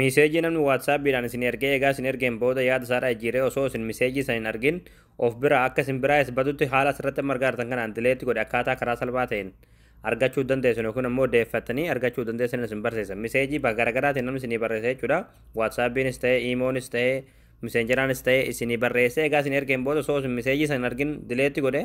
Miiseejii namni waatsaappiidhaan isinii ergee eegaa isin ergeen booda yaada isaa irraa jijjiiree osoo isin miseejii san hin argin of biraa akka isin biraa is badutti haala asirratti amma argaartan kanaan dileetti godhe akkaataa karaa salphaa ta'een argachuu dandeessan yookiin ammoo deeffattanii argachuu dandeessan isin barsiisa. Miseejii bakka garaagaraatiin namni isinii barreessa jechuudha. Waatsaappiinis ta'ee, iimoonis ta'ee, miseenjaraanis ta'ee isinii barreessee egaa isin ergeen booda osoo isin miseejii san hin argin dileetti godhe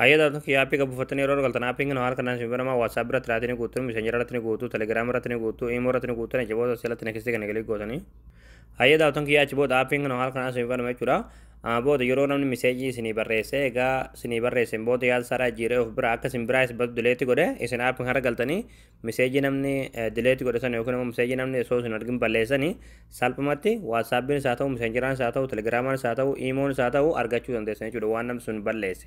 Hayyee taatu kiyya aappii qabu uffattanii yeroo galtan aappiin kun haala kanaan isin banamaa WhatsApp irratti irratti ni guutu, Messenger irratti ni guutu, Telegram irratti ni guutu, Imo irratti ni guutu, achi booda sirratti next kana galii gootanii. Hayyee taatuun kiyya achi booda aappiin kun haala kanaan isin banama jechuudha. Booda yeroo namni miseejii isinii barreesse egaa isinii barreesseen booda yaada isaa irraa jiiree of bira akka isin biraa isa badu dileetti godhe isin aappiin kana galtanii Miseejii namni dileeti godhe sana yookiin immoo miseejii namni osoo isin argin balleessanii salphumatti waatsaappiinis haa ta'u miseenjiraanis haa ta'u telegiraamaanis haa ta'u iimoonis haa ta'u argachuu dandeessan jechuudha waan namni sun balleesse.